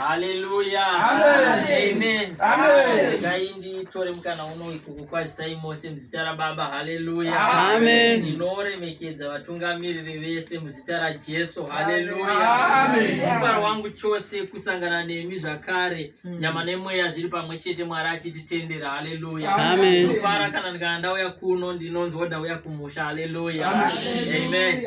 Haleluya. Amen. Amen. Gaindi tore mkana uno ikuku kwa Simon se mzitara baba. Haleluya. Amen. Ndinore mekedza vatungamiri vese mzitara Jesu. Haleluya. Amen. Mfaro wangu chose kusangana nemi zvakare. Mm. nyama nemweya zviri pamwe chete mwari achititendera haleluya ndofara kana ndikana ndauya kuno ndinonzi woda uya kumusha haleluya amen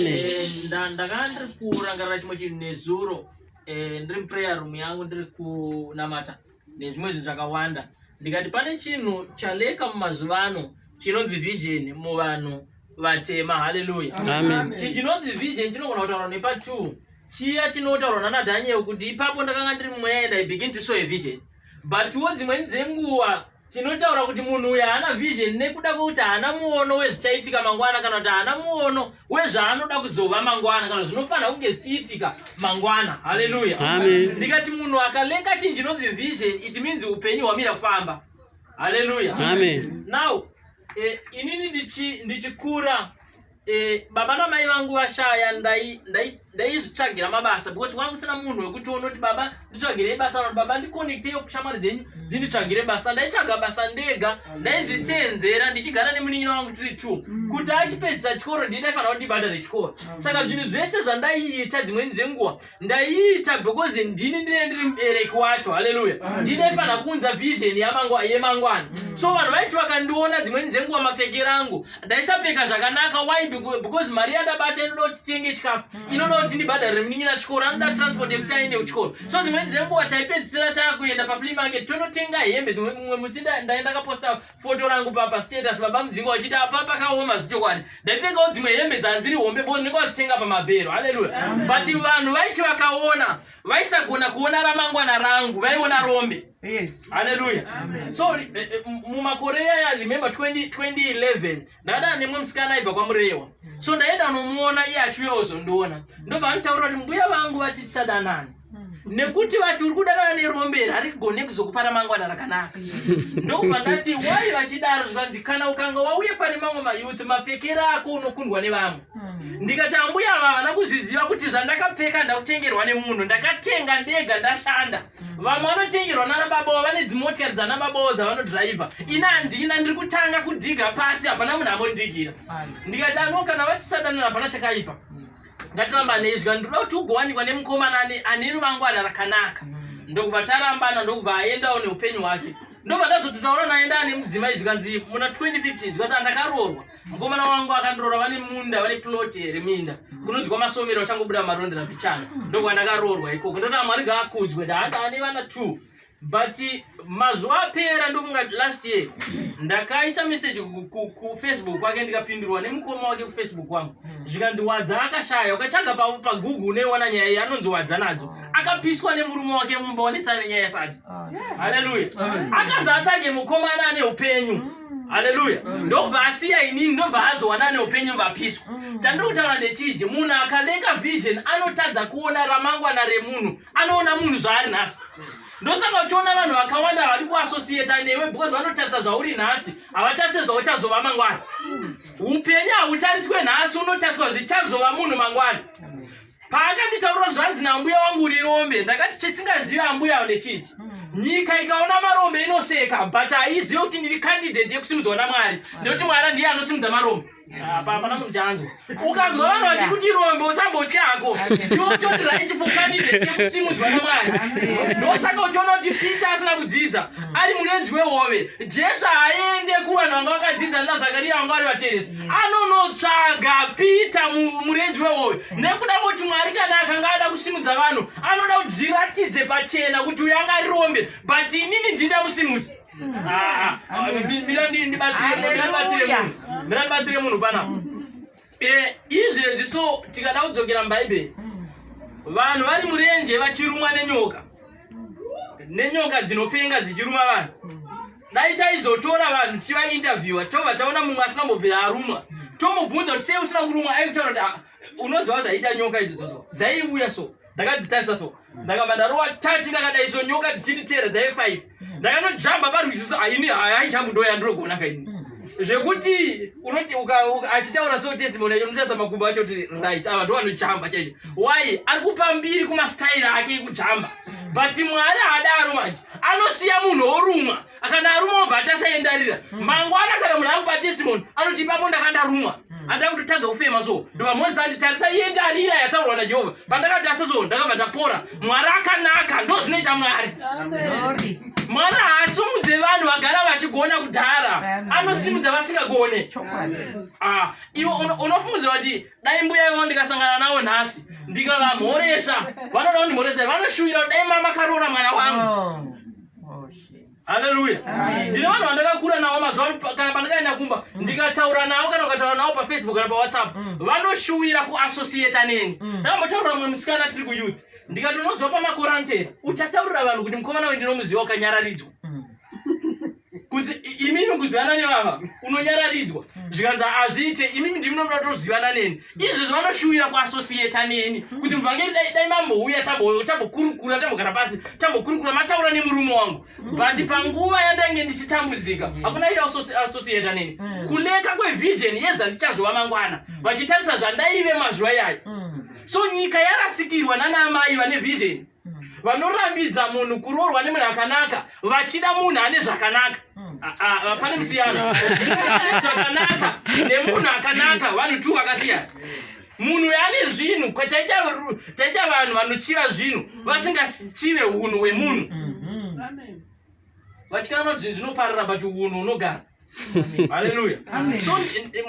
eh, ndakana ndiri kurangarira chimwe chinhu nezuro eh, ndiri muprayer room yangu ndiri kunamata nezvimwe zvinhu zvakawanda ndikati pane chinhu chaleka mumazuva ano chinonzi vision muvanhu vatema haleluya chinonzi vision chinogona kutaura nepa two chiya chinotaurwa nana daniel kuti ipapo ndakanga ndiri mumweya and i begin to show a vision but wo dzimweni dzenguva tinotaura kuti munhu uyu haana vision nekuda kwekuti haana muono wezvichaitika mangwana kana kuti haana muono wezvaanoda kuzova mangwana kana zvinofanira kunge zvichiitika mangwana haleluya ndikati munhu akalenga chinhu chinonzi vision it means upenyu hwamira kufamba haleluya now eh, inini ndichikura ndichi Eh, baba namai vangu vashaya ndaizvitsvagira mabasa because kwanga kusina munhu wekuti onoti baba nditsvagirei basa vanoti baba ndiconnecteyo shamwari dzenyu mm. dzinditsvagire basa ndaitsvaga basa ndega ndaizviseenzera ndichigara nemunin'ina wangu tiri two mm. kuti achipedzisa chikoro ndii ndaifanira kuti ndibhadhare chikoro saka zvinhu zvese zvandaiita dzimweni dzenguva ndaiita because ndini ndine ndiri mubereki wacho haleluya ndine fana kuunza vision yemangwana mm. so vanhu vaiti vakandiona dzimweni dzenguva mapfekera angu ndaisapfeka zvakanaka why because mari yandabata inoda kuti tenge chikafu mm. inoda kuti ndibhadharire munin'ina chikoro anoda mm. transport yekuti aende kuchikoro so dzimweni dzenguva taipedzisira taakuenda paflea market tonotenga hembe dzimwe mumwe musi ndaenda kaposta foto rangu papa status baba mudzinga wachiti apa pakaoma zvichokwadi ndaipfekawo dzimwe hembe dzanziri hombe bo ndinenge wazitenga pamabhero haleluya but vanhu vaiti vakaona vaisagona kuona ramangwana rangu vaiona rombe haleluya so eh, eh, mumakore yaya remember 2011 ndadana nemwe musikana aibva kwamurewa so ndaenda nomuona iye achiuya ozondiona ndobva anditaurira kuti mbuya vangu vati tisadanane nekuti vati uri kudanana neromberi harigone kuzokupa ramangwana rakanaka ndokubva ndati wai vachidaro zvikanzi kana ukanga wauye pane mamwe mayouth mapfekere ako unokundwa nevamwe hmm. ndikati ambuya ava havana kuzviziva kuti zvandakapfeka ndakutengerwa nemunhu ndakatenga ndega ndashanda vamwe vanotengerwa nana babawo vane dzimotikari dzana babawo dzavanodhiraivha ini handina ndiri kutanga kudhiga pasi hapana munhu amodigira ndikati ano kana vatisadanana hapana chakaipa ngatiramba neizwa ndinoda kuti ugowanikwa nemukomana ane ruvangwana rakanaka mm. ndokubva tarambana ndokubva aendawo neupenyu hwake ndobva ndazototaura naye ndaane mudzimai zvikanzi muna 2015 zvikanzi andakaroorwa mukomana wangu akandirora vane munda vane plot here minda kunonzwa masomero achangobuda marondera mbichana ndokuva ndakaroorwa ikoko ndoda mwari ngaakudwe ndaada ane vana two but mazuva apera ndofunga last year ndakaisa message kufacebook kwake ndikapindurwa nemukoma wake kufacebook wangu hmm. zvikanzi wadza akashaya ukatsvaga pagoogle uneiona nyaya iyi anonzi wadza nadzo akapiswa nemurume wake mumba wanetsana nenyaya yasadzi ah. haleluya akanzi atsvage mukomana ane upenyu hmm. haleluya mm. ndobva asiya inini ndobva azowana neupenyu vapiswa mm. chandiri kutaura ndechiji munhu akaleka vision anotadza kuona ramangwana remunhu anoona munhu zvaari nhasi ndosaka uchiona vanhu vakawanda vari kuasosiyeta newe because vanotarisa zvauri nhasi havatarise zvauchazova mangwana mm. upenyu hautariswe nhasi unotariswa zvichazova munhu mangwana paakanditaurira zvanzi nambuya wangu rirombe ndakati chisingazivi ambuya avo ndechii hmm. nyika ikaona marombe inoseka but haizive kuti ndiri kandidheti yekusimudzwa namwari nekuti mwari ndiye anosimudza marombe hapana munhu chanzwa ukanzwa vanhu vati kuti rombe usambotya hako ndotori right for kandidheti yekusimudzwa namwari ndosaka uchiona kuti peter asina kudzidza hmm. ari murenzi wehove jesu haaende kuvanhu vanga vakadzidza nazakariya vanga vari vateresi anonotsvaga pita murenji wewoyo mm. nekuda kuti mwari kana akanga ada kusimudza vanhu anoda kuti zviratidze pachena kuti uyo anga arirombe but inini ndinda musimudzi mm. ah, ah. mira ndibatsire munhu panapa mm. eh, izvezvi so tikada kudzokera mubhaibheri vanhu vari murenje vachirumwa nenyoka nenyoka dzinopenga dzichiruma vanhu dai taizotora vanhu tichivainterviewa tobva taona mumwe asina mbobvira arumwa tomubvunza kuti sei usina kurumwa aikutaura kuti ah, unoziva zvaiita nyoka idzodzoso dzaiuya so ndakadzitarisa so ndakabva ndarowa tati ndakadai so nyoka dzichinditeera dzaive five ndakanojamba parwiziso aini haijambu ndoya ndinogona kaini zvekuti unoti achitaura so testimony yacho unotarisa makumbo acho kuti right ava ndo vanojamba chaio why ari kupa mbiri kumastayiri ake ekujamba but mwari haadaro manje anosiya munhu orumwa kana arumwa obva atasaendarira hmm. mangwana kana munhu akupa testimony anoti ipapo ndaka ndarumwa hmm. andida kutotadza kufema so ndobva mozisi andi tarisa yendarira yataurwa najehovha pandakatasa so ndakabva ndapora mwari akanaka ndo zvinoita mwari mwari haasimudze vanhu vagara vachigona kudhara anosimudza vasingagone ah, iwe unofungudzira kuti dai mbuya ivavo ndikasangana navo nhasi ndikavamhoresa vanoda kundimhoresa vanoshuvira kuti dai mama karoora mwana wangu oh, oh, haleluya ndine vanhu vandakakura navo mazuva kana pandakaenda kumba mm. ndikataura navo kana ukataura navo pafacebook kana pawhatsapp mm. vanoshuvira kuassociata neni mm. ndambotaurira mwe musikana tiri kuyouth ndikati unozopa makorantera uchataurira vanhu kuti mukomana we ndinomuziva ukanyararidzwa kuti imimi kuzivana nevava unonyararidzwa mm. zvikanzi hazviite imimi ndimi nomuda tozivana neni izvezvi vanoshuvira kuasosiyeta neni mm. kuti muvhangeri dai dai mambouya tambokurukura tambogara pasi tambokurukura mataura nemurume wangu mm. but panguva yandange ndichitambudzika hakuna iri asosiyeta neni kuleka kwevision yezvandichazova mangwana vachitarisa zvandaive mazuva iyayo so nyika yarasikirwa nanaamai vane vision vanorambidza munhu kuroorwa nemunhu akanaka vachida munhu ane zvakanaka hmm. ah, ah, ah, pane musiyano zvakanaka nemunhu akanaka vanhu two vakasiyana munhu ane zvinhu taita vanhu vanochiva zvinhu hmm. vasingachive unhu hwemunhu hmm. vachikananwa zvinhu zvinoparira but unhu unogara haleluya so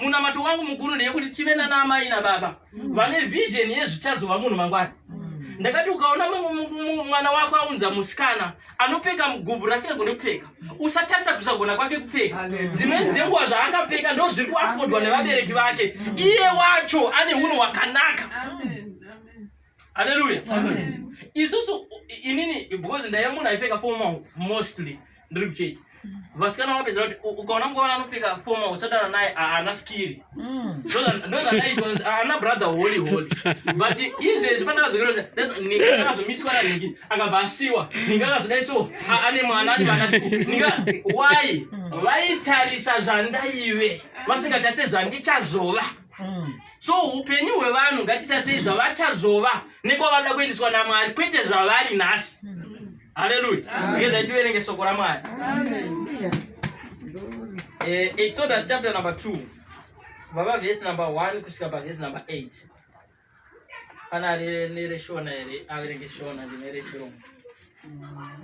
munamato wangu mukuru ndeyekuti tive nana amai nababa mm. vane vision yezvichazova munhu mangwana mm. ndakati ukaona mwana wako aunza musikana anopfeka mugubvu rasingagone kupfeka usatarisa kusagona kwake kupfeka dzimweni dzenguva zvaakapfeka ndo zviri kuafodwa nevabereki vake iye wacho ane unhu wakanaka Amen. Hallelujah. Amen. Isusu inini because ndaive munhu aipfeka formal mostly ndiri kuchechi. Vasikana vapedzera kuti ukaona mukona anopfeka formal usadana naye haana skiri. Mm. Ndozvandaikonzi haana brother holy holy. But izvezvi pandakazokira kuti ninga akazomitiswa na Niki akabva asiwa. Ninga akazodai so ane mwana ane vana. Ninga why? Vaitarisa zvandaive vasingatarisa zvandichazova. mm. so upenyu hwevanhu ngatitasei zvavachazova nekwavada kuendeswa namwari kwete zvavari nhasi mm. haleluya ngezai tiverenge soko ramwari eh, exodus chapter number 2 baba vhesi number 1 kusvika pavhesi number 8 pana nereshona here averenge shona ndinerechirungu mm.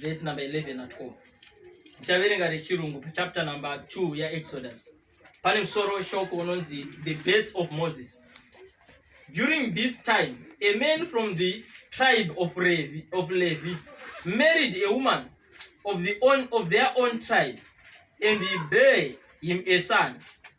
Verse number 11 at all. Ndichaverenga rechirungu chapter number 2 yaExodus. Pane musoro weshoko unonzi the birth of Moses. During this time, a man from the tribe of Levi, of Levi married a woman of, the own, of their own tribe and he bare him a son.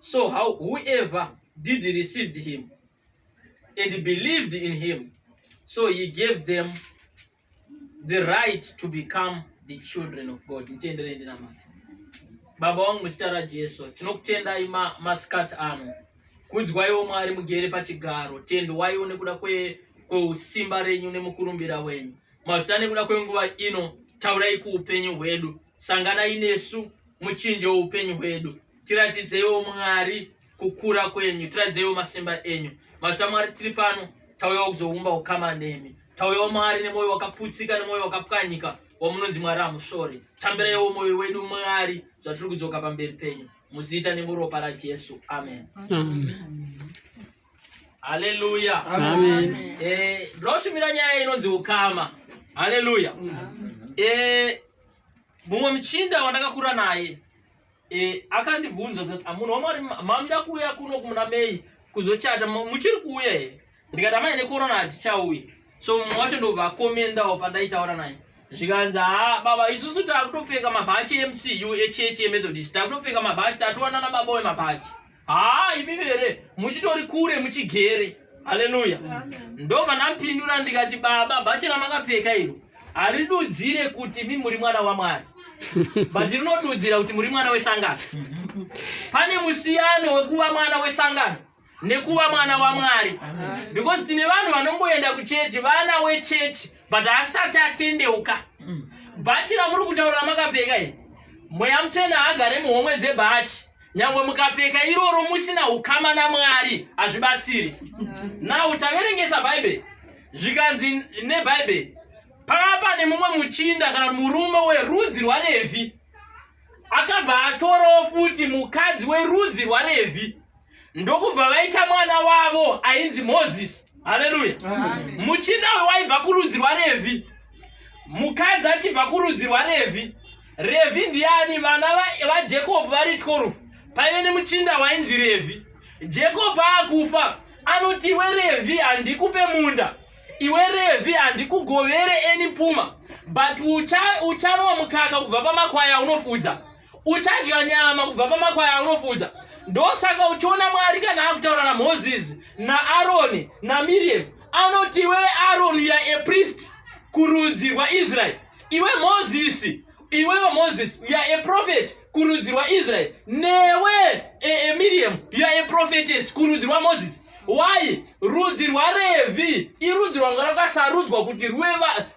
So how whoever did received him and believed in him, so he gave them the right to become the children of God. Mtenderei ndinamata. Baba wangu muzita raJesu, tinokutendai masikati ano. Kudzwaiwo Mwari mugere pachigaro, tendwaiwo nekuda kweusimba renyu nemukurumbira wenyu. Mazvita nekuda kwenguva ino, taurai kuupenyu hwedu. Sanganai nesu muchinjo woupenyu hwedu. Tiratidzeiwo Mwari kukura kwenyu, tiratidzeiwo masimba enyu. Mazvita Mwari tiri pano, tauyawo kuzoumba ukama nemi. Tauyawo Mwari nemwoyo wakaputsika nemwoyo wakapwanyika wamunonzi Mwari hamusvori. Tambiraiwo mwoyo wedu Mwari zvatiri kudzoka pamberi penyu. Muzita nemuropa raJesu. Amen. Haleluya. Amen. Eh, ndoshumira nyaya inonzi ukama. Haleluya. Eh, mumwe muchinda wandakakura naye e, akandibvunza kuti ah, munhu wamwari mamira kuuya kuno kumuna mei kuzochata muchiri kuuya here ndikati amai nekorona hatichauya so mumwe wacho ndovakomendawo pandaitaura naye zvikanzi ha baba isusu takutopfeka mabhachi emcu echechi emethodist takutopfeka mabhachi tatowanana baba wemabhachi haa imi vere muchitori kure muchigere haleluya ndobva ndampindura ndikati baba bhachi ramakapfeka iro haridudzire kuti mi muri mwana wamwari but rinodudzira kuti muri mwana wesangano pane musiyano wekuva mwana wesangano nekuva mwana wamwari because tine vanhu vanongoenda kuchechi vana wechechi but asati atendeuka bhachi ramuri kutaura ramakapfeka iri mweya mutsvene haagare muhomwe dzebhachi nyangwe mukapfeka iroro musina ukama namwari hazvibatsiri now taverengesa bhaibheri zvikanzi nebhaibheri pakava pane mumwe muchinda kana murume werudzi rwarevhi akabva atorawo futi mukadzi werudzi rwarevhi ndokubva vaita mwana wavo ainzi mozisi haleluya muchinda wewaibva kurudzi rwarevhi mukadzi achibva kurudzi rwarevhi revhi ndiani vana vajakob vari 12 paive nemuchinda wainzi revhi jakob akufa anoti iwe revhi handikupe munda iwe revhi handikugovere eni pfuma but uchanwa mukaka kubva pamakwai aunofudza uchadya nyama kubva pamakwai aunofudza ndosaka uchiona mwari kana akutaura namoses naaroni namiriam anoti iwewe aroni ya aprist kurudzi rwaisraeri iwe mozisi iwewe moses you are a prophet kurudzi rwaisrael newe e, e, miriam you are a prophetess kurudzi rwamoses why rudzi rwarevhi irudzi rwanga rwakasarudzwa kuti rwuve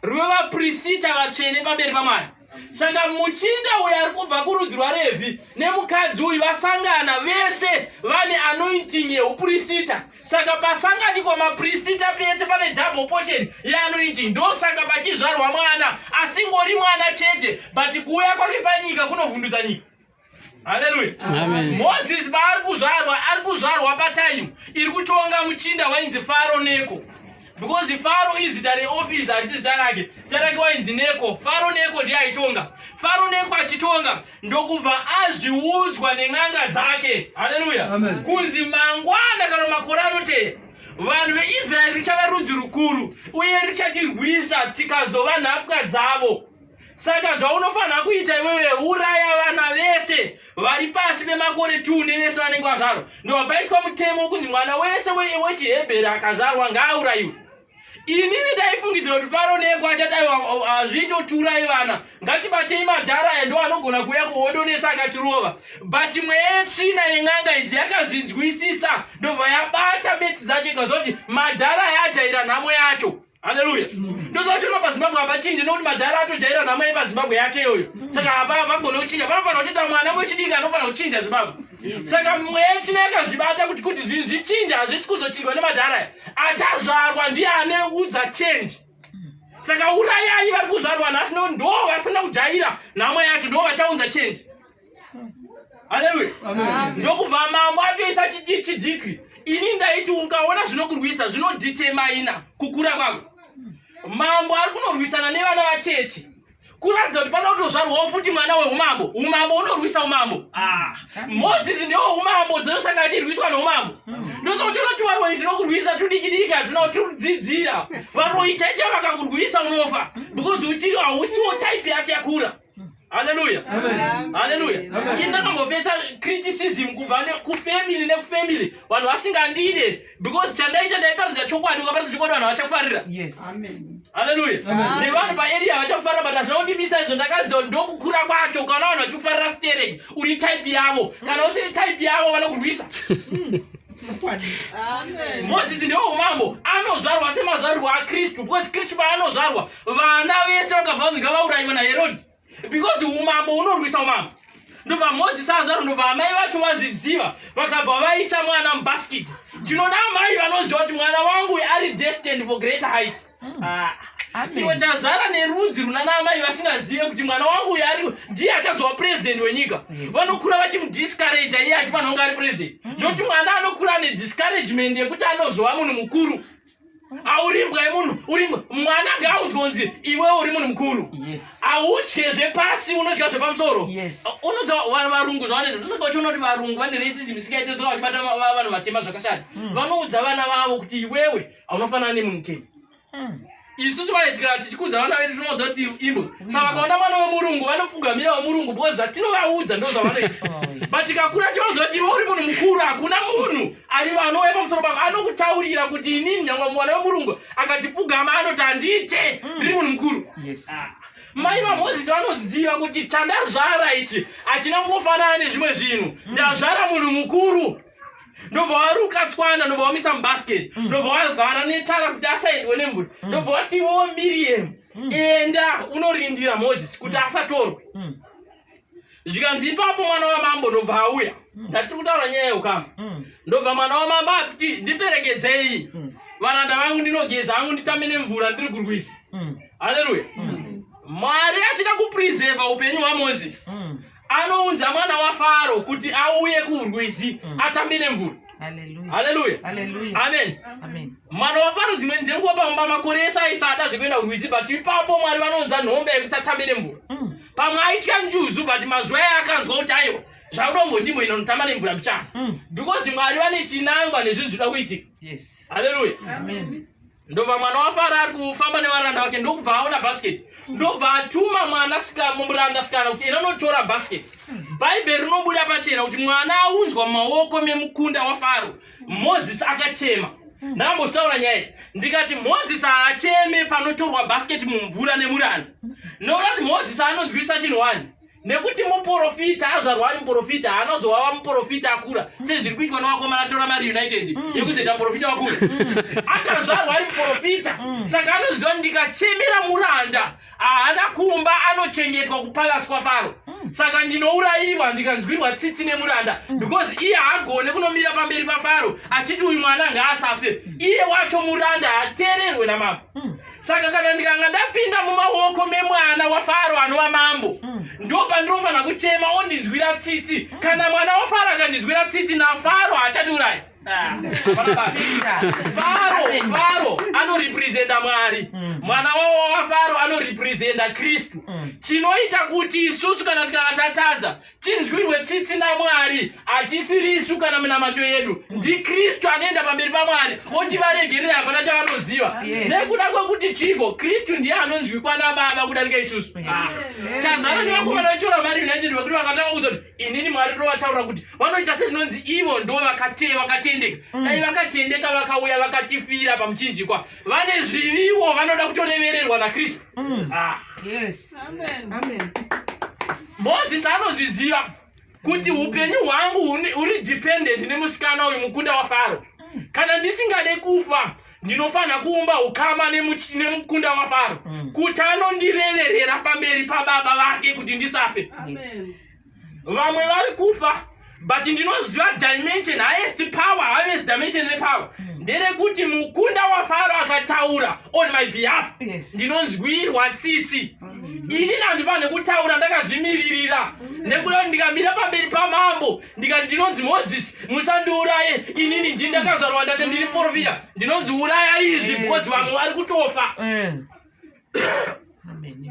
vaprisita vatsvene pamberi pamwari saka muchinda uyo ari kubva kurudzi rwarevhi nemukadzi uyu vasangana vese vane anointing yeuprisita saka pasangani kwamaprisita pese pane double portion yeanoiti ndosaka pachizvarwa mwana asingori mwana chete but kuuya kwake panyika kunovhundutsa nyika haleluya moses paari kuzvarwa ari kuzvarwa pataimu iri kutonga muchinda wainzi faro neko because faro izita reoffice harisi zita rake zita rake wainzi neko faro neko ndiye aitonga faro neko achitonga ndokubva azviudzwa nen'anga dzake haleluya kunzi mangwana kana makore anoteya vanhu veisraeri richava rudzi rukuru uye richatirwisa tikazova nhapwa dzavo saka zvaunofanira kuita iwewe uraya vana vese vari pasi pemakore two nevese vanenge vazvarwa ndovapaiswa mutemo wokunzi mwana wese wechihebheri akazvarwa ngaaurayiwe inini ndaifungidzira kuti faro neko achati azvitoturai vana ngatibatei madhara aya ndo anogona kuuya kuhondo nese akatirova but imwe yetsvina yen'anga idzi yakazvinzwisisa ndobva yabata betsi dzacho ikazoti madhara ayajaira nhamo yacho haleluya ndoziva kuti pazimbabwe hapachinje nokuti madhara atojaira nhamo yepazimbabwe yacho iyoyo saka hapa havagone kuchinja panofanira kuti ta mwana wechidiki anofanira kuchinja zimbabwe saka mweya isina yakazvibata kuti kuti zvinhu zvichinja hazvisi kuzochinjwa nemadhara aya achazvarwa ndiye ane udza change saka urayai vari kuzvarwa nhasi nokuti ndo vasina kujaira nhamo yacho ndo vachaunza change haleluya ndokubva mambo atoisa chidiki ini ndaiti ukaona zvinokurwisa zvinoditemaina kukura kwako mambo ari kunorwisana nevana vachechi kuratidza kuti panoda kutozvarwawo futi mwana weumambo umambo unorwisa umambo ah, mozisi ndiwo umambo dzinosaka achirwiswa noumambo hmm. ndosa kuti unoti varoi tinokurwisa tudikidiki hatina kutirudzidzira varoi chaicha vakakurwisa unofa because uchiri hausiwo type yacho yakura haleluya haleluya inakambopesa criticism kubva kufamily nekufamily vanhu vasingandide because chandaita ndaiparidza chokwadi ukaparidza chokwadi vanhu havachakufarira haleluya nevanhu paarea havachakufarira but hazvina kundimisa izvo ndakaziva ndokukura kwacho ukaona vanhu vachikufarira sterek uri type yavo kana usiri type yavo vanokurwisa mozisi ndewo umambo anozvarwa semazvarirwo akristu because kristu paanozvarwa vana vese vakabva vanzi ngavaurayiwa naherodi because umambo unorwisa umambo ndobva mozisi azvaro ndobva amai vacho vazviziva vakabva vaisa mwana mubaskiti ndinoda amai vanoziva kuti mwana wangu ari destined for greater height hmm. ah. iwe tazara nerudzi runana amai vasingazive kuti mwana wangu uyo ari ndiye achazova purezidenti wenyika vanokura vachimudiscouraja iye achifanonga ari purezidenti hmm. zvokuti mwana anokura ane discouragement yekuti anozova munhu mukuru aurimbwa yemunhu urimwe mwana ngaudyonzi iwe uri munhu mukuru audye zvepasi unodya zvepamusoro unodza varungu zvavanoita ndosaka vachiona kuti varungu vane racism isingaite soka vachibata vanhu vatema zvakashata hmm. vanoudza vana vavo kuti iwewe haunofanana nemunhu tema hmm. isusu vaitikana tichikudza vana vedu tinoudza kuti imbwa hmm. saka vakaona mwana wemurungu vanopfugamira wemurungu because zvatinovaudza ndo zvavanoita oh, but tikakura tivaudza kuti iwe uri munhu mukuru hakuna munhu arivo anouya pamusoro pavo anokutaurira kuti inini nyangwa mwana wemurungu akatipfugama anoti handiite hmm. ndiri munhu mukuru ah. mai vamozisi vanoziva kuti chandazvara ichi hachina kungofanana nezvimwe zvinhu hmm. ndazvara munhu mukuru ndobva waruka tswana ndobva wamisa mubasket hmm. ndobva wavhara netara kuti asaendwe nemvura ndobva watiwo miriam enda unorindira mozisi kuti asatorwe zvikanzi ipapo mwana wamambo ndobva auya mm. tatiri kutaura nyaya yeukama mm. ndobva mwana wamambo ati ndiperekedzei mm. varanda vangu ndinogeza hangu nditame nemvura ndiri kurwisa haleluya mwari achida kupreseva upenyu hwamozisi anounza mwana wafaro kuti auye kurwizi atambe nemvura haleluya amen mwana wafaro dzimweni dzenguva pamumba makore ese aisada zvekuenda kurwizi but ipapo mwari vanounza nhombe yekuti atambe nemvura mm. pamwe aitya njuzu but mazuva aye akanzwa kuti aiwa zvaudongo ndimo inonotamba nemvura mbichana mm. because mwari vane chinangwa nezvinhu zvinoda kuitika haleluya ndobva mwana wafara ari kufamba nevaranda vake ndokubva aona basket ndobva atuma mwana muranda sikana kuti ena unotora basket bhaibheri rinobuda pachena kuti mwana aunzwa mumaoko memukunda wafaro mozisi akachema ndakambozvitaura nyaya ndikati mozisi haacheme panotorwa basket mumvura nemuranda nokuti mozisi anonzwisa chinhu wani nekuti muprofita azvarwa ari muprofita haanozovava muprofita akura sezviri kuitwa nevakomana tora mari united mm. yekuzoita muprofita wakura mm. akazvarwa ari muprofita mm. saka anoziva kuti ndikachemera muranda haana kumba anochengetwa kupalasi kwafaro saka ndinourayiwa ndikanzwirwa tsitsi nemuranda because iye haagone kunomira pamberi pafaro achiti uyu mwana ngaasafe iye wacho muranda hateererwe namama saka kana ndikanga ndapinda mumaoko memwana wafaro anova mambo hmm. ndo pandinofanira kuchema ondinzwira tsitsi hmm. kana mwana wafaro akandinzwira tsitsi nafaro haachatiurayi ah. faro faro anorepresenta mwari hmm. mwana wavo wafaro anorepresenta kristu chinoita kuti isusu kana tikanga tatadza tinzwirwe tsitsi namwari hatisiri isu kana minamato yedu ndikristu anoenda pamberi pamwari voti varegerera hapana chavanoziva nekuda kwekuti chiiko kristu ndiye anonzwikwa nababa kudarika isusu ah. tazana nevakomana vetora mari united vakuti vakatanga kuudza kuti inini mwari tovataurira kuti vanoita sezvinonzi ivo ndo vakatendeka mm. dai vakatendeka vakauya vakatifira pamuchinjikwa vane zviviwo vanoda kutorevererwa nakristu mm. ah. yes. Amen. Amen. Moses anozviziva kuti upenyu hwangu huri dependent nemusikana uyu mukunda waFaro. Kana ndisingade kufa ndinofanira kuumba ukama nemukunda waFaro mm. kuti anondireverera pamberi pababa vake kuti ndisafe. Vamwe vari kufa but ndinoziva dimension highest power highest dimension repower hmm. nderekuti mukunda wafaro akataura on my behalf ndinonzwirwa tsitsi hmm. ini nandiva nekutaura ndakazvimiririra hmm. nekuda kuti ndikamira pamberi pamambo ndikati ndinonzi moses musandiuraye inini ndii ndakazvarwa ndati ndiri profita ndinonzi uraya izvi because vamwe vari kutofa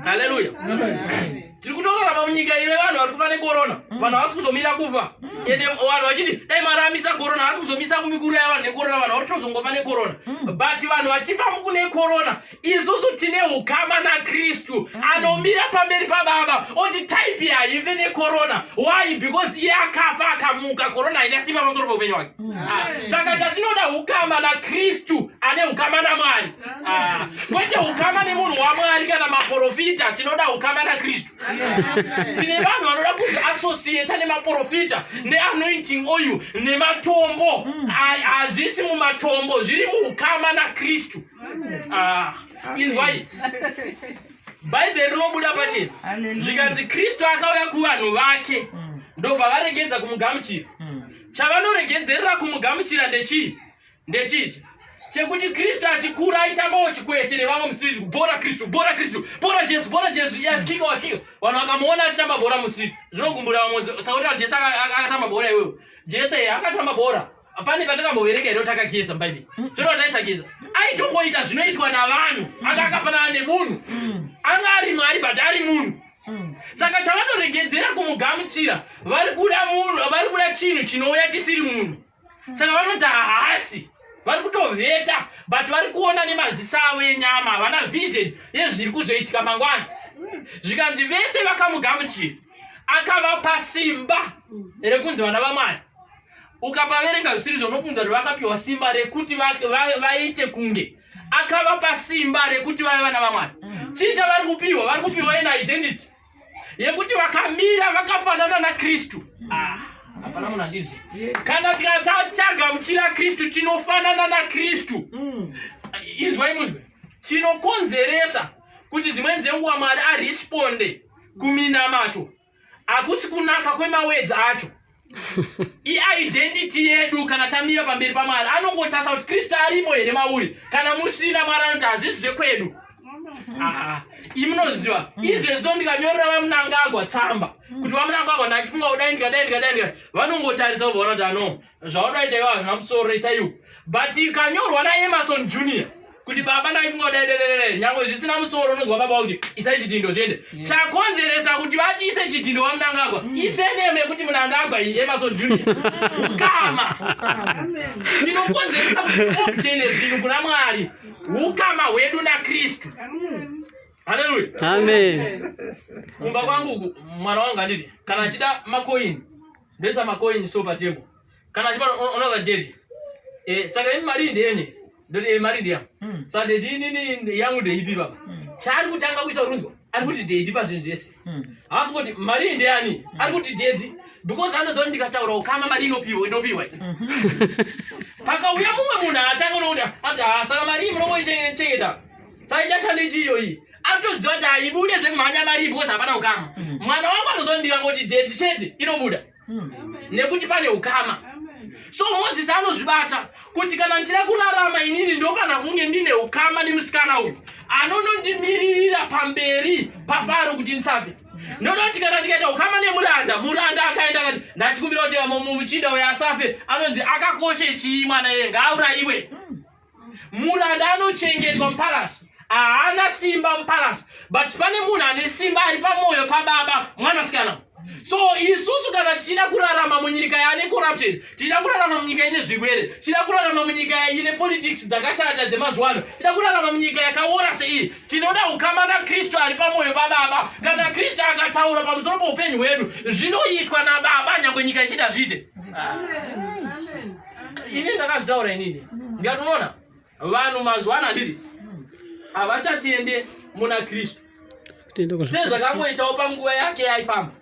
haleluya tiri kutorarama munyika ine vanhu vari kufa nekorona mm. vanhu havasi kuzomira kufa mm. ende vanhu vachiti dai mwari amisa korona havasi kuzomisa kumikuru yavanhu nekorona vanhu vari kutozongofa nekorona mm. but vanhu vachifa mukune korona isusu tine ukama nakristu anomira pamberi pababa oti type haife nekorona why because iye akafa akamuka korona haina simba pamusoro poupenyu wake ah. saka chatinoda ukama nakristu ane ukama namwari Ah, kwete ukama nemunhu wamwari kana maprofita tinoda ukama nakristu tine vanhu vanoda kuzoassociata nemaprofita neanointing oil nematombo hazvisi mumatombo zviri muukama nakristu ah, inzwai bhaibheri rinobuda pachena zvikanzi kristu akauya kuvanhu vake ndobva varegedza kumugamuchira hmm. chavanoregedzerera kumugamuchira ndechii ndechichi chekuti kristu achikura aitambawo chikweshe nevamwe musiriti kubhora kristu bhora kristu bhora jesu bhora jesu achikika achikika vanhu vakamuona achitamba bhora musiriti zvinogumbura vamwe sakuti jesu akatamba bhora iwewe jesu ye akatamba bhora pane patakambovereka here takageza mubhaibheri mm. zvino taisageza aitongoita zvinoitwa navanhu anga akafanana nemunhu mm. anga ari mwari but ari munhu mm. saka chavanoregedzera kumugamuchira vari kuda munhu vari kuda chinhu chinouya chisiri munhu saka vanoti haasi vari kutovheta but vari kuona nemaziso avo enyama havana vision yezviri kuzoitika mangwana zvikanzi vese vakamugamuchira akavapa simba rekunzi vana vamwari ukapaverenga zvisiri zvonopunza kuti vakapiwa simba rekuti vaite kunge akavapa simba rekuti vave vana vamwari chii chavari kupiwa vari kupiwa ena identity yekuti vakamira vakafanana naKristu. Ah, hapana munhu andizwa. Kana tikatagamuchira Kristu tinofanana naKristu. Mm. Inzwai munzwe. Chinokonzeresa kuti dzimweni dzenguva Mwari aresponde kuminamato hakusi kunaka kwemawedzi acho iidentity yedu kana tamira pamberi pamwari anongotasa kuti kristu arimo here mauri kana musina mwari anoti hazvisi zvekwedu ah, imunoziva mm. izvezvo ndikanyorera vamunangagwa tsamba mm. kuti vamunangagwa ndachifunga kudai ndikadai ndikadai ndika vanongotarisa kuvaona kuti ano zvaudaita ivo hazvina musoro isaiwo but ikanyorwa naemason junior kuti baba ndaifunga kuti aidededede nyangwe zvisina musoro unonzwa baba kuti isai chidhindo zviende chakonzeresa kuti vadise chidhindo wamunangagwa mm. iseneme yekuti munangagwa iyi emason junior ukama tinokonzeresa kutene zvinhu kuna mwari ukama hwedu nakristu haleluya amen kumba kwangu mwana wangu anditi kana achida makoini ndoisa makoini so patable kana achibata unoza dedi eh, saka ini mari ndenye ndoti eh, mari ndiya hmm. saka dedi inini yangu ndeipi baba hmm. chaari kuti anga kuisa runzwa ari kuti dedi pazvinhu zvese hmm. haasi kuti mari ndeyani ari kuti dedi because anoziva kuti ndikataura ukama mari inopiwa indopiwa pakauya mumwe munhu atanga unokuti ati ha ah, saka mari iyi munongoichengeta saka ichashanda ichi iyoyi atoziva kuti haibude zvemhanya mari because hapana ukama mwana wangu anozondi vangoti dedi chete inobuda nekuti pane ukama so mozisi anozvibata kuti kana ndichida kurarama inini ndofana kunge ndine ukama nemusikana uyu anonondimiririra pamberi pafaro kuti ndisape ndoda kuti kana ndikaita ukama nemuranda muranda akaenda kati ndachikumbira kuti mumuchinda uyo asafe anonzi akakoshe chii mwana yeye ngauraiwe muranda anochengetwa mupalasi haana simba mupalasi but pane munhu ane simba ari pamwoyo pababa mwanasikana so isusu kana tichida kurarama munyika yaane corruption tichida kurarama munyika ine zvirwere tichida kurarama munyika ine politics dzakashata dzemazuva ano tida kurarama munyika yakaora seiyi tinoda ukama nakristu ari pamwoyo pababa kana kristu akataura pamusoro poupenyu hwedu zvinoitwa nababa nyangwe nyika ichida zviite Amen. Amen. ini ndakazvitaura inini ndikati unoona vanhu mazuva ano handiti havachatende muna kristu sezvakangoitawo panguva yake yaifamba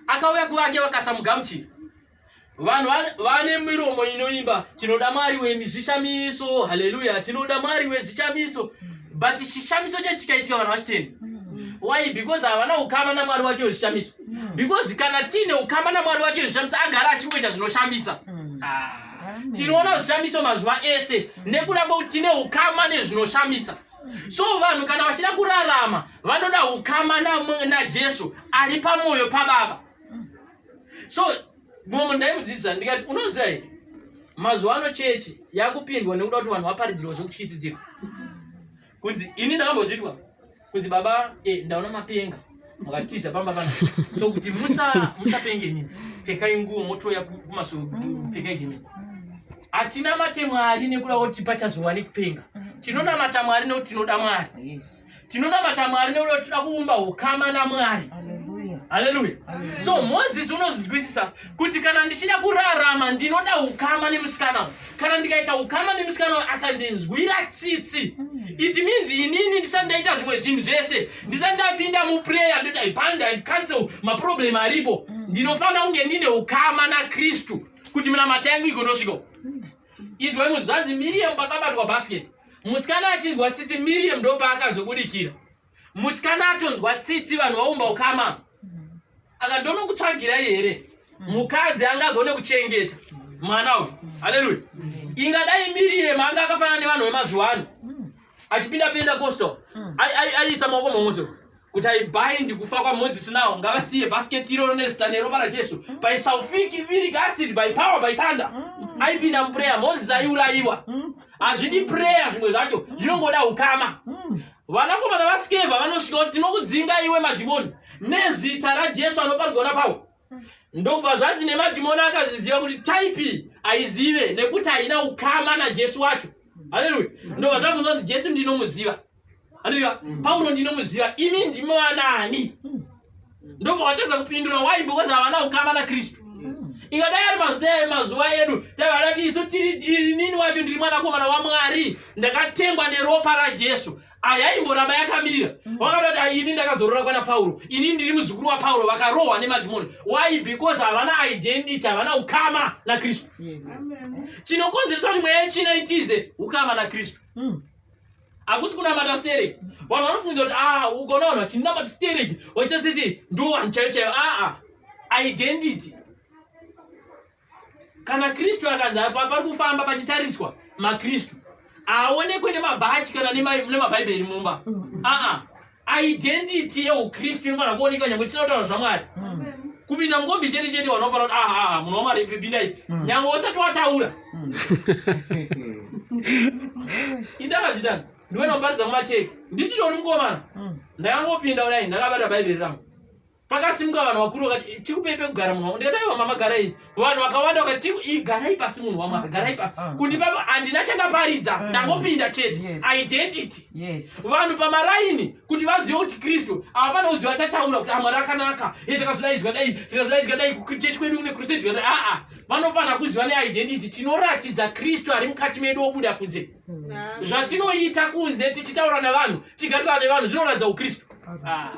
akauya kuvake vakasamugamuchira vanhu vane miromo inoimba tinoda mwari wemizvishamiso haleluya tinoda mwari wezvishamiso but chishamiso chachikaitika vanhu vachitenda why because havana ukama namwari wake wezvishamiso mm. because kana tiine ukama namwari wacho zvishamisa agara achingoita zvinoshamisa mm. ah. tinoona zvishamiso mazuva ese mm. nekuda kwekuti tine ukama nezvinoshamisa so vanhu kana vachida kurarama vanoda ukama najesu ari pamwoyo pababa so mumwe ndaimudzidzisa ndikati unoziva here mazuva ano chechi yakupindwa nekuda kuti vanhu vaparidzirwa zvekutyisidzirwa kunzi ini ndakambozvitwa kunzi baba eh, ndaona mapenga mukatiza pamba pana so kuti musa musapenge nini pfekai nguo motouya kumaso pfekai gemi hatinamate mwari nekuda kuti pachazowa nekupenga tinonamata mwari nekuti tinoda mwari tinonamata mwari nekuda kuti tinoda kuumba ukama namwari haleluya so moses unozvinzwisisa kuti kana ndichida kurarama ndinoda ukama nemusikana kana ndikaita ukama nemusikana uyu akandinzwira tsitsi hmm. it means inini ndisati ndaita zvimwe zvinhu zvese ndisati ndapinda muprayer ndoti i band and cancel maproblem aripo hmm. ndinofanira kunge ndine ukama nakristu kuti minamata yangu igondosviko hmm. inzwai muzvanzi miriam pakabatwa basket musikana achinzwa tsitsi miriam ndopaakazobudikira musikana atonzwa tsitsi vanhu vaumba ukama aka ndonokutsvagirai here mukadzi angagone kuchengeta mwana uyu haleluya ingadai miriyemu anga akafanana nevanhu vemazuva ano achipinda penda costo aiisa maoko mamuso kuti aibindi kufa kwamozisi nawo ngavasiye basketi iroro nezita neropa rajesu by salfic viric acid by power by thunder aipinda muprayer mozisi aiurayiwa hazvidi prayer zvimwe zvacho zvinongoda ukama Vanakomana vaSkeva vanosvika kuti tinokudzinga iwe madhimoni nezita raJesu anoparidzwa naPauro. Ndokubva zvanzi nemadhimoni akazviziva kuti taipi aizive nekuti haina ukama naJesu wacho. Haleluya. Ndokubva zvabvunza kuti Jesu ndinomuziva. Haleluya. Pauro ndinomuziva. Imi ndimi vanaani? ndobva watadza kupindura why because havana ukama nakristu ikadai ari mazita emazuva edu tavada ti isu tiri inini wacho ndiri mwanakomana wamwari ndakatengwa neropa rajesu ayaimboramba yakamirira mm. wakatoti ah, ini ndakazorora kwana pauro ini ndiri muzukuru wapauro vakarohwa nemadhimoni why because havana identity havana ukama nakristu chinokonzeresa kuti mweya yechina itize ukama nakristu mm. hakusi kunamata stereki vanhu vanofunza kuti a ukaona vanhu vachinamata stereki vaita sisi ndo vanhu chaiyo chaiyo aa identity kana kristu akanzi pari kufamba pachitariswa makristu haaonekwe nemabhachi kana nemabhaibheri mumba aa identity yeukristu inofanira kuoneka nyangwe tisina kutaura zvamwari mm. kupinda mukombi chete chete wanofanira kuti aha aha munhu wamwari pipinda ipi mm. nyangwe usati wataura mm. indakazvitanga ndiwe noparidza kumacheke ndichitori mukomana ndakangopinda kudai ndakabata bhaibheri rangu pakasimuka vanhu vakuru vakati tikupei pekugara munhu ndikati aiwa mama garai vanhu vakawanda vakati garai pasi munhu wamwari garai pasi ah. kundipa handina chandaparidza ah. ndangopinda chete identity vanhu pamaraini kuti vazive kuti kristu ava pane uziva tataura kuti amwari ah, akanaka e takazodaizwa dai tikazodaizwa dai kuchechi kwedu kune crusade aa vanofanira kuziva neidentity tinoratidza kristu ari mukati medu obuda kunze zvatinoita kunze tichitaura nevanhu tichigarisana nevanhu zvinoratidza ukristu ah.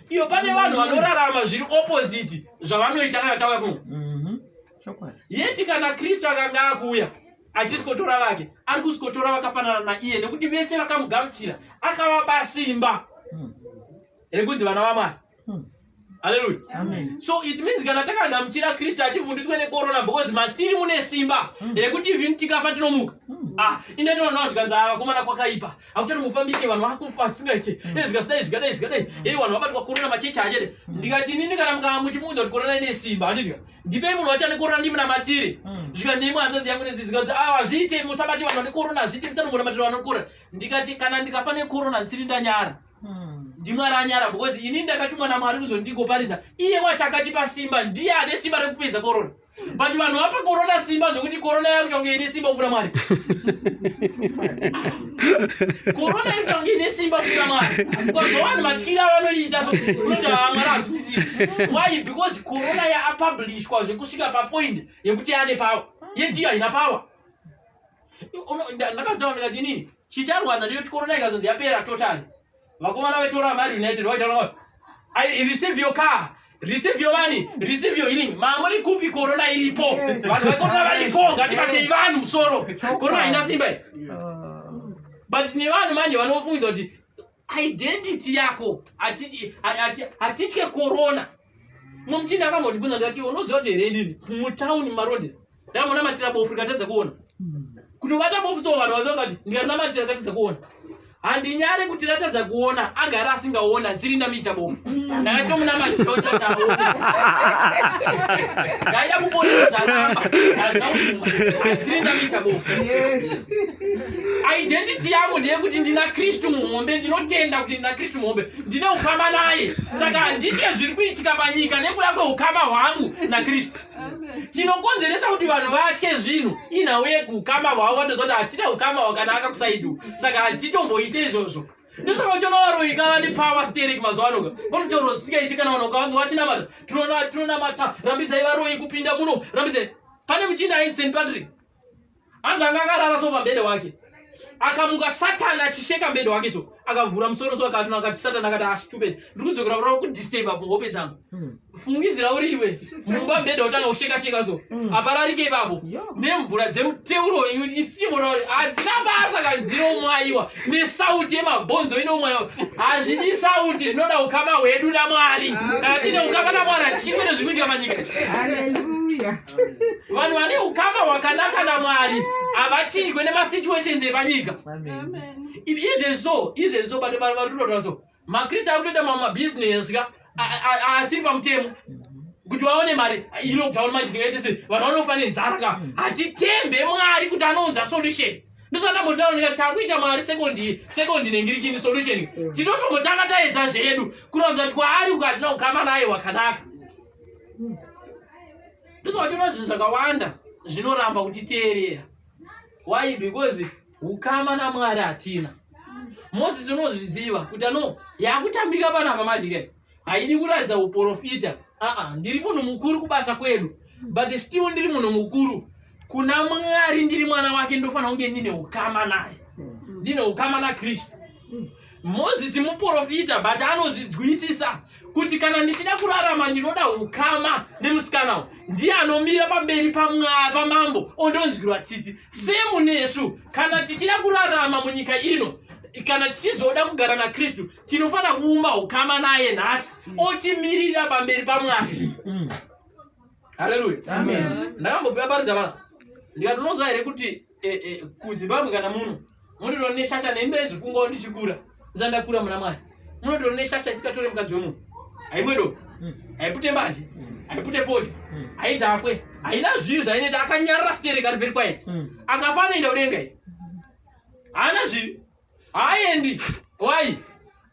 iyo pane vanhu vanorarama zviri opposite zvavanoita kana tauya kuno mhm. yeti kana kristu akanga akuuya achisikotora vake ari kusikotora vakafanana naiye nekuti vese vakamugamuchira akavapa simba hmm. rekunzi vana vamwari Hmm. Haleluya. Amen. So it means kana takagamuchira Kristu hativhunditswe nekorona because matiri mune simba hmm. rekuti even tikafa tinomuka. Hmm. Ah, ine tinoona zvikanzi ava ah, kumana kwakaipa. Hakuchati mufambike vanhu vakufa asingaite. Izvi hmm. eh, zikasidai zvikadai zvikadai. Hey eh, vanhu vabatwa korona machechi achete. Ndikati nini kana mukamuti munhu kuti korona ine simba handiti. Ndipei munhu wachane korona ndimuna matiri. Zvika ndimwe hanzodzi yangu nezi zvikanzi ah hazviite musabati vanhu ne korona hazviite musanombona matiri vanokora. Ndikati kana ndikafa ne korona ndisiri ndanyara. Hmm. ndimwari anyara because ini ndakatumwa namwari kuzondigoparidza iye wacho akatipa simba ndiye ane simba rekupedza korona but vanhu vapa korona simba zvekuti korona yakutange ine simba kupira mwari korona yakutange ine simba kupira mwari bcause vanhu matyira vanoita so unoti vamwari ah, hakusisi why because korona yaapublishwa zvekusvika papoint yekuti ane power yediyo haina power ndakazvitaura ndikati inini chicharwadza ndicho chikorona ikazonzi yapera totally vakomana vetora mari united vaitaura i receive your car receive your money receive your healing mamuri kupi korona iripo vanhu vekorona varipo ngatibatei vanhu musoro korona haina simba but tine vanhu manje vanofungidzwa kuti identity yako hatitye corona mumuchini akambondibvunza ndati unoziva kuti here ndini mutown marode ndamona matira bofu rikatadza kuona kuti ubata bofu to vanhu vaziva kati ndikarina matira rikatadza kuona handinyare kuti ratadza kuona agara asingaona ndisiri ndamiita bofu ndakachitomunama ndaida kuponesa zvaramba ndazvinauma ndisiri ndamiita bofu identity yangu ndeyekuti ndina kristu muhombe ndinotenda kuti ndina kristu muhombe ndine ukama naye saka handitye zviri kuitika panyika nekuda kweukama hwangu nakristu chinokonzeresa kuti vanhu vatye zvinhu inhau yekuukama hwavo vatoziva kuti hatine ukama hwakanaka kusaidu saka hatitomboite izvozvo ndosaka uchonovaroika vane power sterek mazuva anoka vanotaura zvisingaiti kana vanhu ukavanzwa vachinamata tinonamata rambisai varoyi kupinda muno rambisai pane muchinda ainsen patrick hanzi anga akarara so pambede wake akamuka satani achisheka mbede wake so akavhura musoro so akati akati satani akati astupid ah, ndiri kudzokera kurava kudisturb apo hope dzangu hmm. fungidzira uri iwe mumba mbede otanga kusheka sheka so hmm. apararike ipapo nemvura dzemuteuro isichimora kuti hadzina basa kana dzinomwayiwa nesauti yemabhonzo inomwayiwa hazvidi sauti zvinoda ukama hwedu namwari kana tine ukama namwari hatichikwete zviri kuitika manyika vanhu vane ukama hwakanaka namwari havachinjwe nemasituations epanyika izvezvo izvezvo bado vanhu vari kutotaura so makristu ari kutoita mamwe mabhizinesi ka asiri pamutemo kuti vaone mari ilockdown manje ndingaite sei vanhu vanofa nenzara ka mm. hatitembe mwari kuti anounza solution ndosandambotaura takuita mari sekondi sekondi nengirikini solution mm. titotombotanga taedza zvedu kuronza kuti kwaari uko hatina kukama naye wakanaka ndosaka zvinhu zvakawanda zvinoramba kutiteerera why because ukama namwari hatina moses unozviziva kuti ano yakutambika panapa manje ke haidi kuratidza uprofita aa ndiri munhu mukuru kubasa kwedu but still ndiri munhu mukuru kuna mwari ndiri mwana wake ndofanira kunge ndine ukama naye ndine ukama nakristu Mozisi muporofita but anozvidzwisisa kuti kana ndichida kurarama ndinoda ukama nemusikana uyu ndiye anomira pamberi pamambo ondonzwirwa tsitsi semu nesu kana tichida kurarama munyika ino kana tichizoda kugara nakristu tinofanira kuumba ukama naye nhasi mm. otimirira pamberi pamwari mm. haleluya ndakambopiwa paridza vana ndikati unoziva here kuti eh, eh, kuzimbabwe kana muno munotoona neshasha nembe zvifungawo ndichikura ndisandakura muna mwari munotoona neshasha isikatore mukadzi wemunhu haimwedo hmm. haipute mbanje hmm. haipute foja hmm. haidhakwe haina zvivi zvainoita akanyarira sitereka riveri kwaye akafanoenda udenga i haana zvivi haaendi why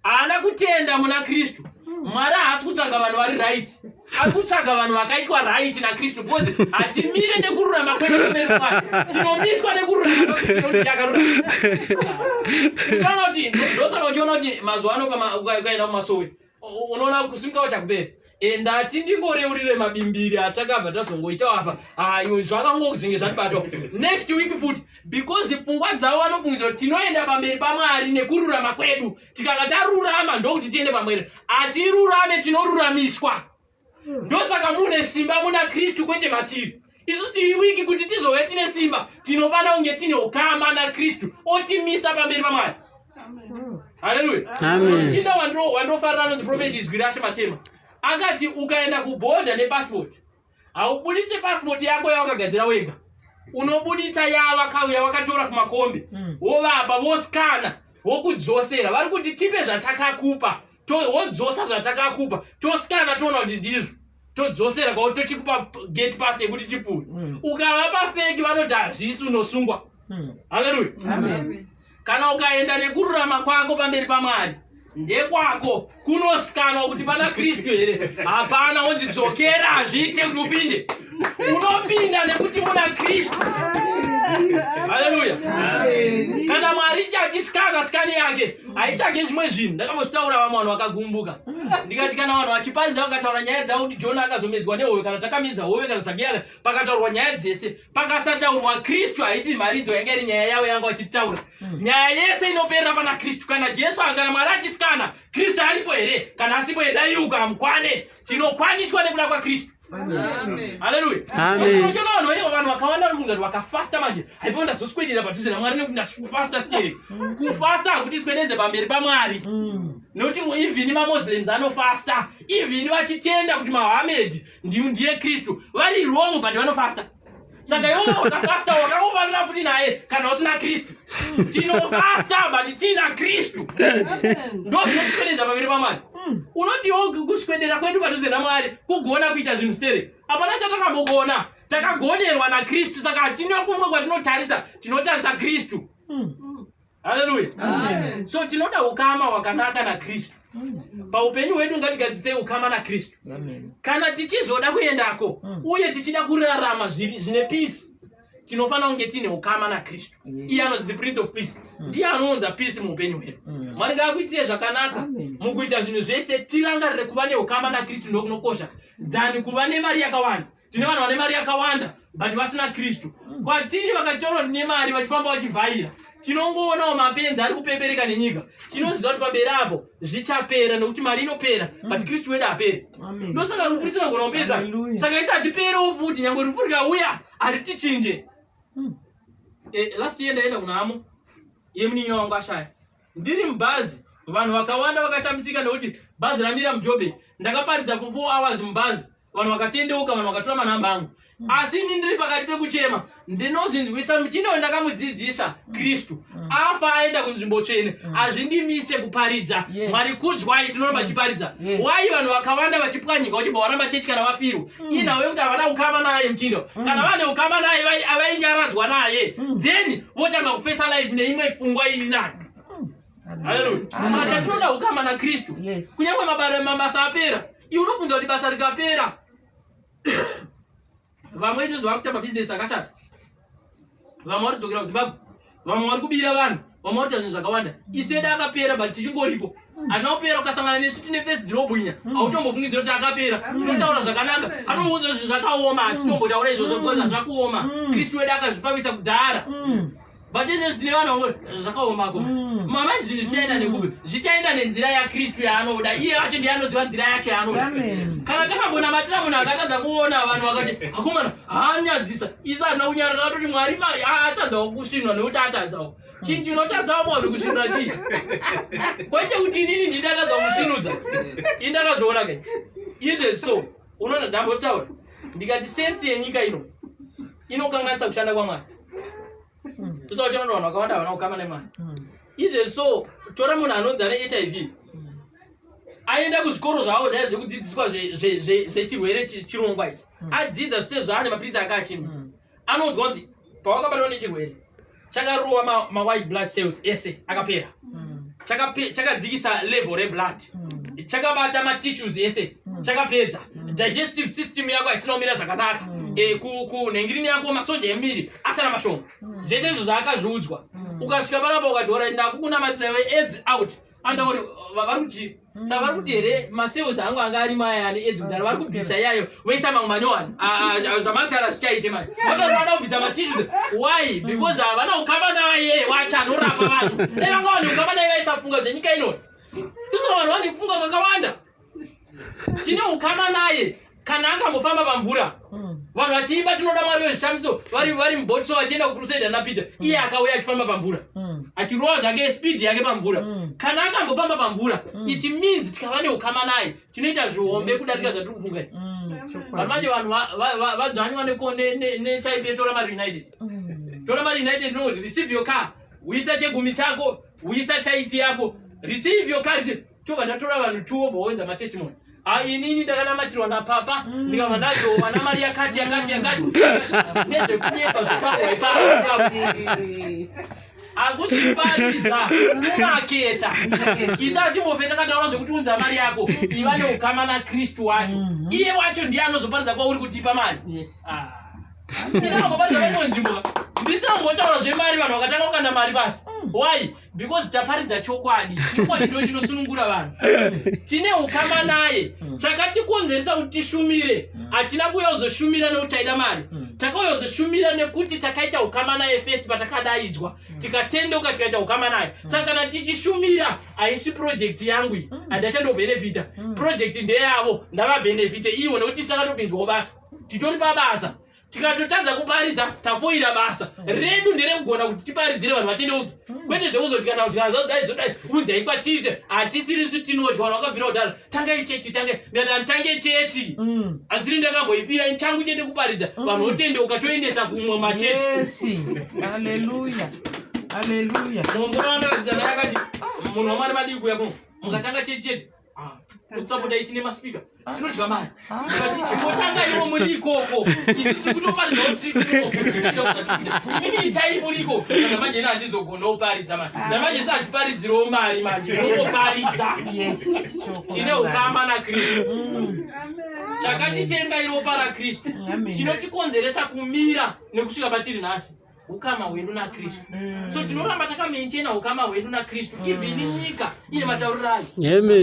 haana kutenda muna kristu mwari haasi kutsvaga vanhu vari right ari kutsvaga vanhu vakaitwa right nakristu because hatimire nekururama kwedueerimwari tinomiswa nekururamaakaruautaona kuti ndosaka uchiona kuti mazuva ano ukaenda kumasowe unoona kusimka wachakubera eh, ndati ndingoreurire mabimbiri atakabva tazongoitawo apa ah, iwe zvakangozenge zvatibatwa next week futi because pfungwa dzavo vanopfungidza kuti tinoenda pamberi pamwari nekururama kwedu tikanga tarurama ndokuti tiende pamwere hatirurame tinoruramiswa ndosaka mune simba muna kristu kwete matiri isu tiri wiki kuti tizove tine simba tinofanira kunge tine ukama nakristu otimisa pamberi pamwari haleluya chinda wandofarira anonzi profeti izwi rashe matema akati ukaenda kubhodha nepasipoti haubuditse pasipoti yako yawakagadzira wega unobuditsa yavakauya vakatora kumakombi hmm. wovapa voskana vokudzosera vari kuti tipe zvatakakupa wodzosa zvatakakupa toskana toona kuti ndizvo todzosera kwao tochikupa gate pass yekuti chipfuure mm. ukavapa feki vanoti hazvisi unosungwa mm. haleluya kana ukaenda nekururama kwako pamberi pamwari ndekwako kunosikanwa kuti pana kristu here hapana wonzi dzokera hazviite kuti upinde unopinda nekuti muna kristu haleluya kana mwari ichachisikana sikani yake haichage zvimwe zvinhu ndakambozvitaura vamwe vanhu vakagumbuka ndikati kana vanhu vachiparidza vakataura nyaya dzavo kuti jona akazomedzwa nehoyo kana takamedza hoyo kana sabiyaka pakataurwa nyaya dzese pakasataurwa kristu haisi mharidzo yanga iri nyaya yavo yanga vachitaura hmm. nyaya yese inoperera pana kristu kana jesu kana mwari achisikana kristu aripo here kana asipo here daiuka mukwane tinokwaniswa nekuda kwaKristu. Haleluya. Amen. Unajua wanhu wenyewe vanhu wakawanda kunga wakafasta manje. Haipo ndazoswedera padhuze na Mwari nekuti ndafasta stere. Mm. Kufasta hakuti swedeze pamberi pa Mwari. Mm. Noti even ma Muslims anofasta. Even vachitenda kuti Muhammad ndiye Kristu. Vari wrong but vanofasta. saka iwe wakafasta wakangofanira futi naye kana usina kristu tinofasta but tiina kristu ndozvinotikwedeza pamberi pamwari hmm. unotiwo kuswedera kwedu padhuze namwari kugona kuita zvinhu stere hapana chatakambogona takagonerwa nakristu saka hatina kumwe kwatinotarisa tinotarisa kristu hmm. Haleluya. Amen. So tinoda ukama wakanaka na Kristu. Paupenyu hwedu ngatigadzise ukama na Kristu. Kana tichizoda kuendako mm. uye tichida kurarama zvine peace tinofanira kunge tiine ukama na Kristu. Mm. Iye anonzi the prince of peace. Mm. Ndiye anounza peace muupenyu hwedu. Mwari ngaakuitire zvakanaka mukuita zvinhu zvese tirangarire kuva neukama na Kristu ndokunokosha than kuva nemari yakawanda. tine vanhu vane mari yakawanda but vasina kristu mm. kwatiri vakatorwa tine mari vachifamba vachivhaira tinongoonawo mapenzi ari kupepereka nenyika tinoziva kuti pamberi apo zvichapera nekuti mari inopera mm. but kristu wedu apere ndosaka rufu risina kugona kupedza saka isatiperewo futi nyangwe rufu rikauya haritichinje mm. eh, last year ndaenda kunamo yemuninyo wangu ashaya ndiri mubhazi vanhu vakawanda vakashamisika nekuti bhazi ramira mujobe ndakaparidza ku four hours mubhazi vanhu vakatendeuka vanhu vakatora manhamba angu mm. asi ini ndiri pakati pekuchema ndinozvinzwisa muchindoyo ndakamudzidzisa kristu mm. afa aenda kunzvimbo tsvene mm. hazvindimise kuparidza mwari kudzwai tinoramba chiparidza wai vanhu vakawanda vachipwanyika vachibva varamba chechi kana vafirwa inhau yekuti havana ukama naye muchindo kana vane ukama naye avainyaradzwa naye then votanga kufesa life neimwe pfungwa iri nani haleluya saka chatinoda ukama nakristu kunyange mabasa apera Iwe unobvunza kuti basa rikapera vamwe ine zvavari kuita mabhizinesi akashata vamwe vari kudzokera kuzimbabwe vamwe vari kubira vanhu vamwe vari kuita zvinhu zvakawanda isu edu akapera but tichingoripo hatina kupera ukasangana nesu tine fesi dzinobwinya mm. hautombofungidzira kuti akapera mm. tinotaura zvakanaka atomboudza zvinhu zvakaoma hatitombotaura izvozvo mm. because hazvina kuoma kristu wedu akazvipamisa kudhara vatenesi tine vana vangoti zvakaoma ko mm. mama zvinhu zvichaenda mm. nekupi zvichaenda nenzira yakristu yaanoda iye acho ndiye anoziva nzira yacho yaanoda kana takambonamatira munhu akatadza kuona vanhu vakati akomana haanyadzisa isa hatina kunyarara toti mwari atadzawo kusvinwa nekuti atadzawo chii chinotadzawo munhu kusvinura chii kwete kuti inini ndindatadza kusvinudza indakazviona ke izve so unoona ndambotaura ndikati sensi yenyika ino inokanganisa kushanda kwamwari usawa chinoda vanhu vakawanda havana kukama nemwari izve so tora munhu anonzi ane hiv aenda kuzvikoro zvavo zvaya zvekudzidziswa zvechirwere chirongwa ichi adzidza zvise zvaane mapirisi ake achimwa anoudzwa kunzi pawakabatwa nechirwere chakarova mawhite blood cells ese akapera mm. chakadzikisa level reblood mm. chakabata matissues ese mm. chakapedza digestive system yako haisina kumira zvakanaka eh, kunhengirini yako masoja emiri asara mashoma zvese izvo zvaakazviudzwa ukasvika panapa ukati orit ndakukunamatira we aids out andauri vari kuti sa vari kuti here masales angu anga ari maya ane edzi kudaro vari kubvisa iyayo voisa mamwe manyowani zvamatara zvichaite manje vatonoda kubvisa matissues why because havana kukamba naye wacho anorapa vanhu dai vanga vane kukamba naye vaisafunga zvenyika inoti isoo vanhu vane kufunga kakawanda tine ukama naye kana akambofamba pamvura hmm. vanhu vachiimba tinoda mwari wezvishamiso vari vari muboti so vachienda kucrusade ana peter hmm. iye akauya achifamba pamvura hmm. achirova zvake speed yake pamvura kana akambofamba pamvura it means tikava neukama naye tinoita zvihombe kudarika zvatiri kufunga vanhu manje vanhu vadzvanywa netype yetora mari united tora mari united no receive your car uisa chegumi chako uisa type yako receive your car tobva tatora vanhu two wobva woenza matestimony Ah, inini ndakanamatirwa napapa mm. ndikava ndazowa namari yakati yakati yakati nezvekunyepa zvotangwa ipapo hakusi kuparidza unaketa isati move takataura zvekuti unza mari yako iva neukama nakristu wacho mhm. iye wacho ndiye anozoparidza kwauri kutipa mari ah. ndinangoparidza vaimwe nzvimbo ndisangotaura zvemari vanhu vakatanga kukanda mari pasi mm. why because taparidza chokwadi chokwadi ndo chinosunungura vanhu tine ukama naye hmm. chakatikonzeresa kuti tishumire hmm. hatina kuuya kuzoshumira nekuti taida mari hmm. takauya kuzoshumira nekuti takaita ukama naye first patakadaidzwa tikatendoka tikaita ukama naye saka kana tichishumira haisi projekti yangu iyi handachandobhenefita projekti ndeyavo ndavabhenefite ivo nekuti tisu takatopinzwawo basa titori pabasa tikatotadza kuparidza tafoira basa mm. redu nderekugona kuti tiparidzire vanhu vatende upi mm. kwete zvekuzoti kana kuti azazodai zodai unzai kwatite hatisirisu tinoti kana wakabvira kudaro tangai chechi tange ndata ntange chechi mm. asiri ndakamboipira changu chete kuparidza vanhu otende ukatoendesa kumwe machechi aleluya aleluya munhu wamari madii kuya kuno mukatanga chechi chete tokusapota ichine maspeaker tinodya mari kati chingotanga ivo muri ikoko isu tiri kutoparidza kuti itai muri ikoko kana manje ina handizogona oparidza mari namanje sa hatiparidzirawo mari manje inoparidza tine ukama nakristu chakatitenga iropa rakristu chinotikonzeresa kumira nekusvika patiri nhasi ukama hwedu nakristu mm. so tinoramba takamaintaina ukama hwedu nakristu mm. even nyika ine matauriro ayo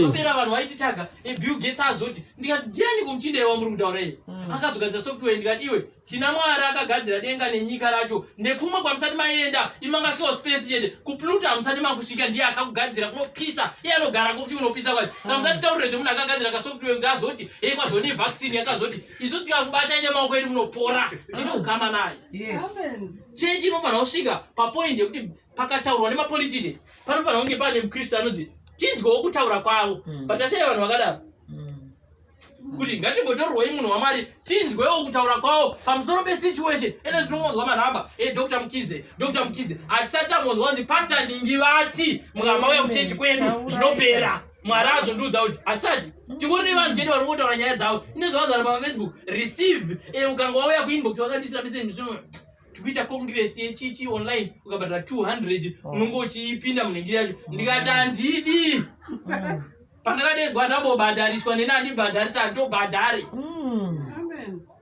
apera vanhu vaititaga ebill gates azoti ndikati ndiani kumuchinda iye wamuri kutaura iye mm. akazogadzira software ndikati iwe tina mwari akagadzira denga nenyika racho nekumwe kwamusati maenda imangasvika space chete kupluto hamusati makusvika ndiye akakugadzira kunopisa iye anogara kokuti unopisa kwai samusati taurire zvemunhu akagadzira kasoftware kuti azoti hei kwazone vaccine yakazoti isu tikakubatai nemaoko edu munopora tine ukama naye chechi inofanira kusvika papoint yekuti pakataurwa nemapolitician panofanira kunge pane mukristu anonzi tinzwewo kutaura kwavo hmm. but ashaya vanhu vakadaro hmm. kuti ngatimbotorwoi munhu wamwari tinzwewo kutaura kwavo pamusoro pesituation ene tinomonzwa manhamba e eh, dr mukize dr mukize hatisati tamonzwa kunzi pasta ndingi vati mukamauya kuchechi kwedu zvinopera mwari azondiudza kuti hatisati tingori nevanhu chete vari kungotaura nyaya dzavo ine zvavazara pamafacebook receive e eh, ukanga wauya kuinbox vakandisira message msimo tikuita congress yechichi online ukabhadhara 200 oh. unonge uchiipinda munhingiri yacho ndikati handidi mm. pandakadedzwa ndambobhadhariswa neni andibhadharisa ndobhadhari mm.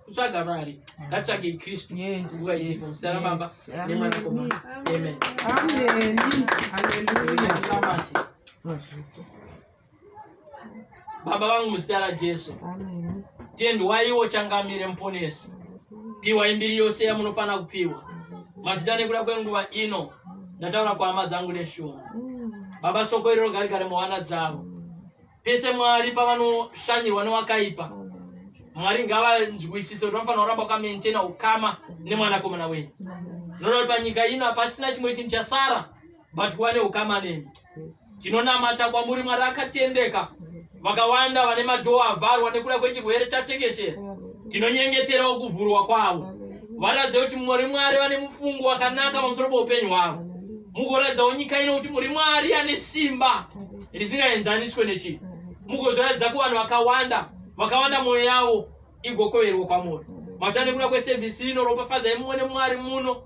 kutsvaga mari ngatsvagei kristu nguva ichipo muzita rababa nemwanakomana amen baba vangu muzita rajesu tendwaiwo changamire muponesi piwai mbiri yose yamunofanira kupiwa mazita nekuda kwenguva ino ndataura kwahama dzangu neshungu baba soko iri rogarigare muhana dzavo pese mwari pavanoshanyirwa newakaipa mwari ngavanzwisise kuti vanofanira kuramba wakamaintaina ukama nemwanakomana wenyu noda kuti panyika ino hapasina chimwe chinhu chasara but kuva neukama nemi tinonamata kwamuri mwari akatendeka vakawanda vane madhoo avharwa nekuda kwechirwere chatekeshera tinonyengeterawo kuvhurwa kwavo varatidze kuti muri mwari vane mufungo wakanaka pamusoro poupenyu hwavo mugoratidzawo nyika ino kuti muri mwari ane simba risingaenzaniswe nechii mukozviratidza kuvanhu vakawanda vakawanda mwoyo yavo igokoverwa kwamuri machita nekuda kwesevhisi ino ropafadza imumwe nemwari muno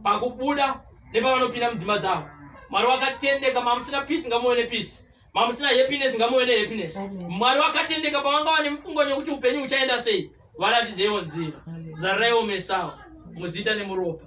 pakubuda nepavanopinda mudzimba dzavo mwari wakatendeka mamusina pisi ngamuve nepisi mamusina happiness ngamuve nehappiness mwari wakatendeka pavanga vane mufungo nekuti upenyu huchaenda sei varatidzeiwo nzira zaraiwo mesawo muzita nemuropa